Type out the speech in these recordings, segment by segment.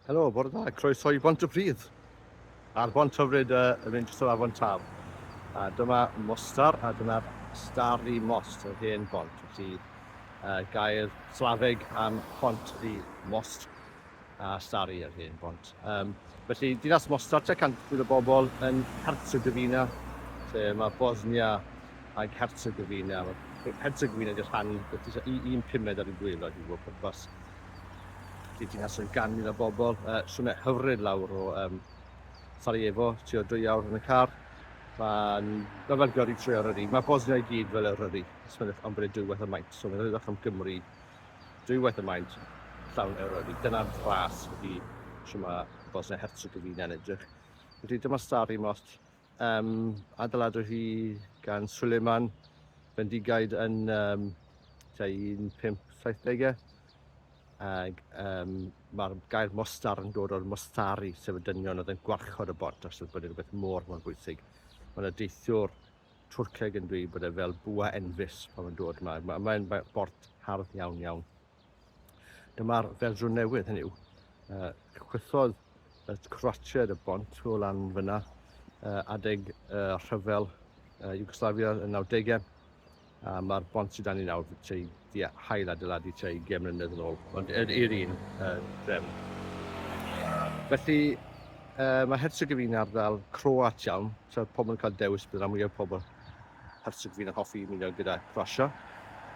Helo, bore da, croeso i Bont y Pridd. A'r bont hyfryd uh, yn mynd trwy afon Tal. A dyma Mostar, a dyma'r Starry Most, yr hen bont. Felly, uh, gair slafeg am pont ydi Most a Starry, yr hen bont. Um, felly, dinas Mostar, te cant o bobl yn Herzegovina, lle mae Bosnia ac Herzegovina. Herzegovina ydy'r rhan, un pumed ar y gwylod i fod pwrpas. Bydd ti'n cael gan mil o bobl. Uh, Swnau hyfryd lawr o um, Sarajevo, ti o dwy awr yn y car. Mae'n ma fel gyrru trwy Eryri. Mae Bosnia i gyd fel Eryri. Smenwch am bod e dwywaith y maint. So mae'n rhywbeth am Gymru dwywaith y maint llawn Eryri. Dyna'r ras ydy sy'n mae Bosnia Herzegovina yn edrych. Felly dyma Stari Most. Um, adeiladwyd hi gan Suleiman Bendigaid yn um, 1570au ac um, mae'r gair mostar yn dod o'r mostari, sef y dynion oedd yn gwarchod y bont os oedd bod rhywbeth mor mor bwysig. Mae yna deithiwr Twrceg yn dweud bod e fel bwa enfus pan mae'n dod yma. Mae'n mae, mae bort hardd iawn iawn. Dyma'r fersiwn newydd, hynny yw, uh, chwythodd y Croatiaid y bont o lan fyna uh, adeg uh, rhyfel uh, Yugoslavia yn 90au, a mae'r bont sydd dan ni nawr tua di hael adeiladu tua 20 mlynedd yn ôl, ond er, i'r un uh, drefn. Felly, uh, mae Herzegovina ardal croat iawn, so pobl yn cael dewis bydd rhan mwyaf pobl Perswr fydd yn hoffi ymuno gyda Croatia,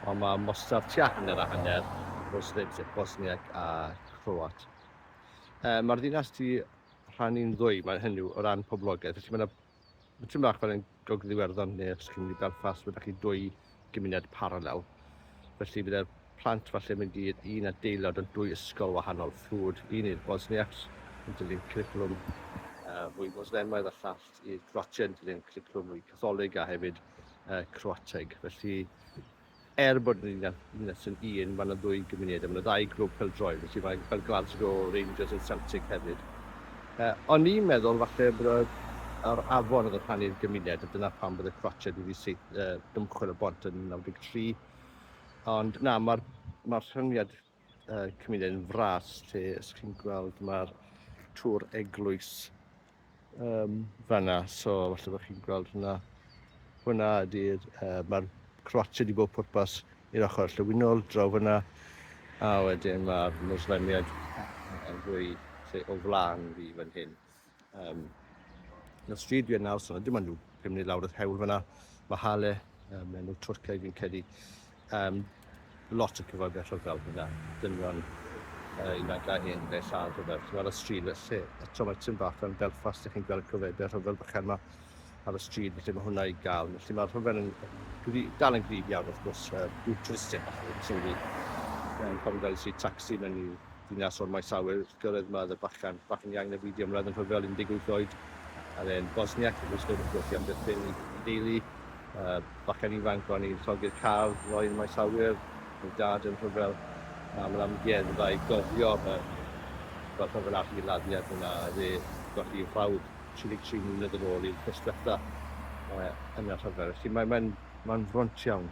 ond mae Mostar tua hanner a hanner o Srpd, Bosniac a Chroat. Uh, Mae'r ddinas di rhannu'n ddwy, mae'n hynny o ran poblogaeth, felly mae yna Mae tîm bach fel yn Gogledd Iwerddon neu os chi'n mynd i Belfast, mae da chi dwy gymuned paralel. Felly bydde'r plant falle mynd i'r un adeilad o dwy ysgol wahanol, ffrwd, un i'r Bosniacs, yn dilyn curriculum uh, fwy Moslemaidd a llall Croat i'r Croatiaid, gyda'n cwricwlwm mwy Catholig a hefyd uh, Croateg. Felly, er bod yn ddinas yn un, mae'n ddwy gymuned, a mae'n ddau grwp fel droed, felly mae, mae Glasgow Rangers yn Celtic hefyd. Uh, o'n i'n meddwl falle bod yr afon oedd yn rhannu'r gymuned, a dyna pam bod y Croatiaid wedi seith, uh, dymchwel y bont yn 93. Ond na, mae'r ma rhyngiad uh, cymuned yn fras lle ys chi'n gweld mae'r tŵr eglwys um, fanna, so falle bod chi'n gweld hwnna. Hwna ydy'r, uh, mae'r croatio di bod pwrpas i'r ochr llywinol draw fyna, a wedyn mae'r Muslimiaid yn fwy lle o flaen fi fan hyn. Um, na stryd dwi yn nawr, so dim ond nhw pum munud lawr y hewl fyna. Mae Hale, um, enw Twrcaidd fi'n cedi, um, lot o cyfoediad rhyfel fyna, dynion uh, ifanc a hen beth a rhyfel. Ti'n gweld y stryd felly, eto mae tyn bach yn Belfast, ydych chi'n gweld y cyfoediad rhyfel bychan yma ar y stryd, felly mae hwnna i gael. Felly mae'r rhyfel yn gri, dal yn gryf iawn, wrth gwrs, uh, dwi'n tristig, sy'n fi. Mae'n cofio gael i si taxi mewn i ddinas o'r maes awyr, Gyrraedd Mad y Bachan, Bachan Yang neu Beidio Ymladd yn rhyfel 18 oed ar e'n Bosniac yn gwisgo rwbeth i amddiffyn ei deulu. Bachan ifanc o'n i'n llogi'r car, roedd y maes awyr, ei dad yn rhyfel am yr amgueddfa i gofio fel rhyfel ar hil addiad yna a fe golli ei frawd 33 mlynedd ar ôl i'r cystwellta yn y rhyfel. Felly mae'n fron iawn.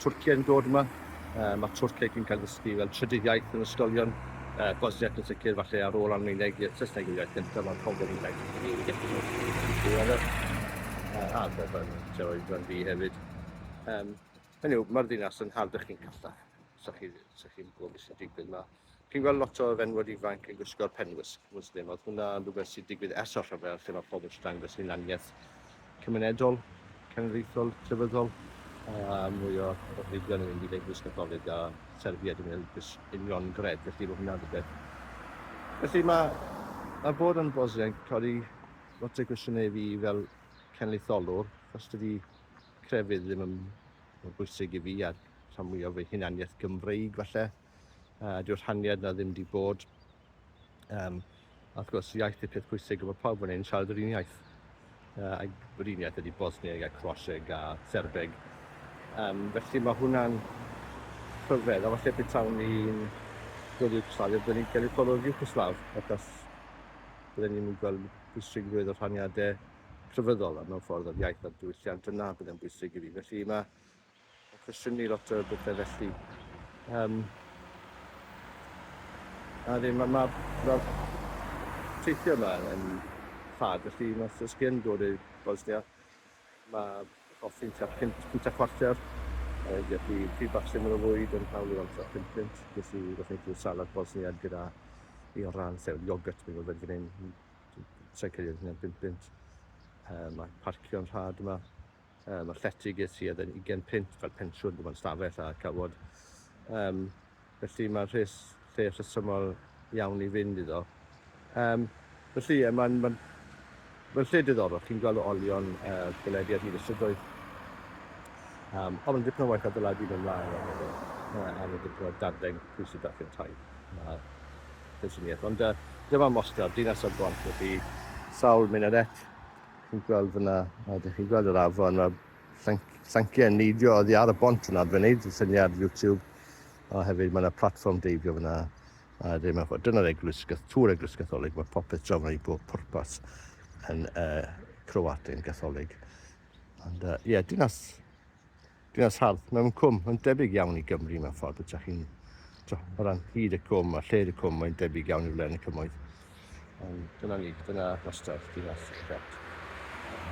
Twrciaid yn dod yma, mae Twrciaid yn cael ei ddysgu fel trydydd iaith yn ysgolion, Bosniac yn sicr, falle ar ôl Almaeneg, ie, Saesneg yw'r iaith gyntaf, mae'n pobl yn iaith diweddar, a Alban, lle oedd rhan fi hefyd. Um, hynny yw, mae'r ddinas yn harddach chi'n callach, sa chi'n gwybod beth sy'n digwydd yma. Chi'n gweld lot o fenywod ifanc yn gwisgo'r penwisg Muslim, oedd hwnna yn rhywbeth sy'n digwydd ers o'r rhyfel lle mae pobl eisiau dangos hunaniaeth cymunedol, cenedlaethol, crefyddol, a mwy o rhywbeth yn mynd i leglwys Catholig a Serbia dwi'n meddwl gys union gred, felly mae hwnna'n rhywbeth. Felly mae, mae bod yn Bosnian yn codi lot o gwestiynau i fi fel cenedlaetholwr, os dydy crefydd ddim yn bwysig i fi a rhan mwyaf fy hunaniaeth Gymreig falle. Uh, dyw'r rhaniad na ddim di bod. Um, a wrth gwrs, iaith y peth pwysig yma pawb yn ein siarad yr un iaith. Uh, ac yr un iaith ydy Bosnieg a Croaseg a Serbeg. Um, felly mae hwnna'n rhyfedd, a falle betawn ni'n gweld Iwgoslafia, byddwn ni'n cael ei ffordd o'r Iwgoslav, achos byddwn ni'n mynd gweld pwysigrwydd o'r rhaniadau crefyddol a mewn ffordd o'r iaith a'r diwylliant yna bydd yn bwysig i fi. Felly mae Mae'n cwestiynu ni lot o bethau felly. Um, a ddim, mae ma, ma, teithio yma yn ffad, felly os, os gen dod i Bosnia, mae hoffi'n tua 5 pwynt a chwarter, felly pryd bach syml o fwyd yn hawl i weld tua 5 pwynt, nes i roedd ni'n salad Bosniad gyda i o ran sef iogurt, mi'n gwybod fan hyn, sa'n credu yn hynny'n 5 pwynt. Um, mae parcio'n rhad yma, Mae'r llety ges i oedd yn ugain punt fel pensiwn, dim ond stafell a cawod. Um, felly mae'r rhes, lle rhesymol iawn i fynd iddo. Um, felly, yeah, mae'n ma Mae'n lle diddorol, chi'n gweld o olion y uh, gwledi ar hyd y strydoedd. Um, ond mae'n dipyn o waith adeiladu mewn mlaen o'r hefyd, uh, a mae'n dipyn o dadleng pwysig dach chi'n tai. Uh, Ond uh, dyma mostr, dinas o'r bont, felly sawl minarett, Chi'n gweld fyna, a dych chi'n gweld yr afon, mae'r llanciau yn neidio oddi ar y bont yna, dwi'n gwneud y syniad YouTube, a hefyd mae yna platfform deifio fyna, a ddim yn ffordd. Dyna'r eglwys, tŵr eglwys gatholig, mae popeth draw fyna i bob pwrpas yn uh, Croatian gatholig. Ond uh, ie, yeah, dinas Dinas hardd mewn cwm, yn debyg iawn i Gymru mewn ffordd, ydych chi'n, o ran hyd y cwm a lled y cwm, mae'n debyg iawn i wledd yn y cymoedd. Ond dyna ni, dyna wastad dinas y Celt.